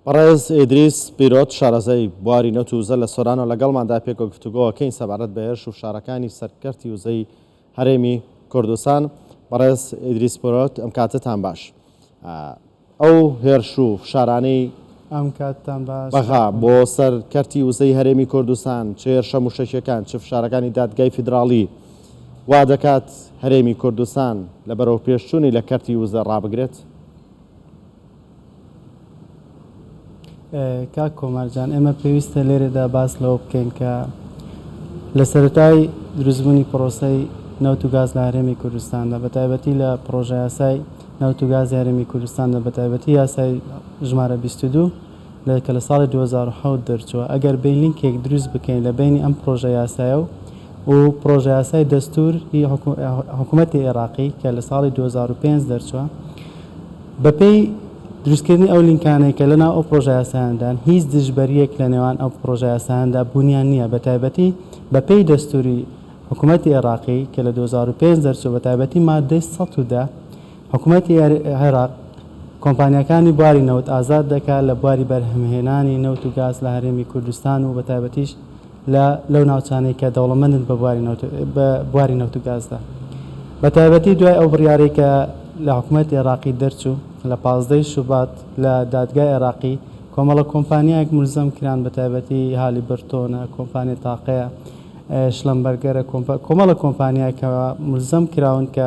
بەڕێز ئیدریس پیرۆت شارەزای بواری نەوت و وزە لە سۆرانۆ لەگەڵماندا پێکەوە گفتوگۆەکەین سەبارەت بە هێرش و فشارەکانی سەرکەرتی وزەی هەرێمی کوردستان بەڕێز ئیدریس پیرۆت ئەم کاتتان باش ئەو هێرش و فشارانەی ئەم کاتتان باش بەغا بۆ سەر کەرتی وزەی هەرێمی کوردستان چ هێرشە موشەکیەکان چ فشارەکانی دادگای فیدراڵی وا دەکات هەرێمی کوردستان لە بەرەو پێشچوونی لە کەرتی وزە ڕابگرێت؟ کاک کۆمار جان ئێمە پێویستە لێرەدا باس لەوە بکەین کە لە سەرەتای دروستبوونی پرۆسەی نەوت و گاز لە هەرێمی کوردستاندا بە تایبەتی لە پرۆژە یاسای نەوت و گاز هەرێمی کوردستاندا بە تایبەتی یاسای ژمارە 22 لە کە لە ساڵی دوو هەزار و حەوت دەرچووە ئەگەر بێین لینکێک دروست بکەین لە بەینی ئەم پڕۆژە یاسایە و و پڕۆژە یاسای دەستوور ی حکوومەتی ئێراقی کە لە ساڵی دوو هەزار و پێنج دەرچووە بە پێی دروست کردنی ئەو لینکانەی کە لە ناو ئەو پڕۆژە یاسایان دان هیچ دژبەریەک لە نێوان ئەو پڕۆژە یاسایان دا بوونیان نییە بە تایبەتی بە پێی دەستووری حکوومەتی ئێراقی کە لە دوو هەزار و پێنج دەرچووە بە تایبەتی ماددەی سەد و دە حکومەتی عێراق کۆمپانیاکانی بواری نەوت ئازاد دەکات لە بواری بەرهەمهێنانی نەوت و گاز لە هەرێمی کوردستان و بەتایبەتیش لە لەو ناوچانەی کە دەوڵەمەندن بە بواری نەوت بە بواری نەوت و گازدا بەتایبەتی دوای ئەو بڕیارەی کە لە حکومەتی عێراقی دەرچوو لە پازدەی شوبات لە دادگای عێراقی کۆمەڵە کۆمپانیایەک ملزەم کران بەتایبەتی هالی برتۆنە کۆمپانیا تاقەیە شلەمبەرگەرە کۆمەڵە کۆمپانیایەکەوە ملزەم کراون کە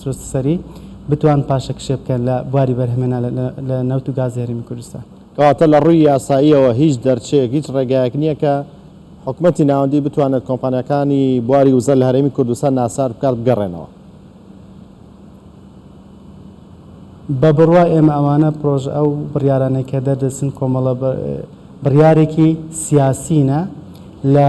سروست سەری بتوان پاشەکشێ بکەن لە بواری بەرهەمێنان لە نەوت و گازی هەرێمی کوردستان. کەواتە لە ڕووی یاساییەوە هیچ دەرچەیەک، هیچ ڕێگایەک نییە کە حکومەتی ناوەندی بتوانێت کۆمپانیاکانی بواری وزە لە هەرێمی کوردستان ناچار بکات بگەڕێنەوە. بە بڕوای ئێمە ئەوانە پرۆژە، ئەو بڕیارانەی کە دەردەچن کۆمەڵە بڕیارێکی سیاسیینە لە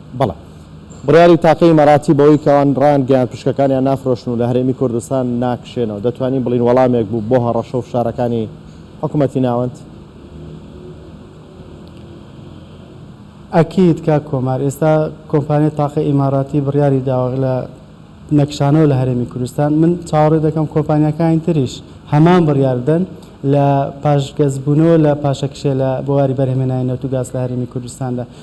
بەڵام بڕیاری تاقی ئیماراتی بەوەی کە ئەوان ڕایانگەیاند پشکەکانیان نافرۆشن و لە هەرێمی کوردستان ناکشێنەوە، دەتوانین بڵێین وەڵامێک بوو بۆ هەڕەشە و فشارەکانی حکومەتی ناوەند؟ ئەکید کاک کۆمار، ئێستا کۆمپانیای تاقی ئیماراتی بڕیاری داوە لە نەکشانەوە لە هەرێمی کوردستان، من چاوەڕێ دەکەم کۆمپانیاکانی تریش هەمان بڕیار بدەن لە پاشگەزبوونەوە لە پاشەکشێ لە بواری بەرهەمهێنانی نەوت و گاز لە هەرێمی کوردستاندا.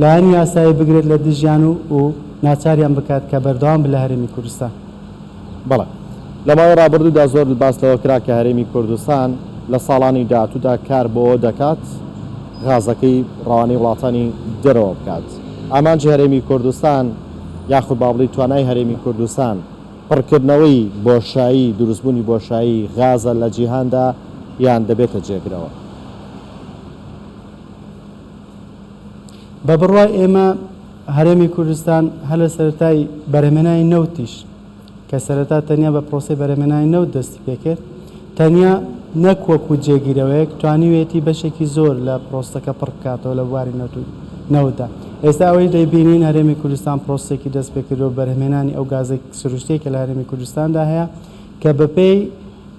لایەنی یاسایی بگرێت لە دژیان و و ناچاریان بکات کە بەردەوام بن لە هەرێمی کوردستان. بەڵێ. لە ماوەی ڕابردوودا زۆر باس لەوە کرا کە هەرێمی کوردستان لە ساڵانی داهاتوودا کار بۆوە دەکات غازەکەی ڕەوانەی وڵاتانی دەرەوە بکات. ئامانجی هەرێمی کوردستان یاخود با بڵێی توانای هەرێمی کوردستان پڕکردنەوەی بۆشایی، دروستبوونی بۆشایی غازە لە جیهاندا یان دەبێتە جێگرەوە؟ بە بڕوای ئێمە هەرێمی کوردستان هەر لە سەرەتای بەرهەمێنانی نەوتیش کە سەرەتا تەنیا بە پرۆسی بەرهەمێنانی نەوت دەستی پێکرد تەنیا نەک وەکو جێگیرەوەیەک توانیویەتی بەشێکی زۆر لە پرۆسەکە پڕ بکاتەوە لە بواری نەوت و نەوتدا ئێستا ئەوەی دەیبینین هەرێمی کوردستان پرۆسێکی دەست پێکردوە بەرهەمێنانی ئەو گازێک سروشتیە کە لە هەرێمی کوردستاندا هەیە کە بەپێی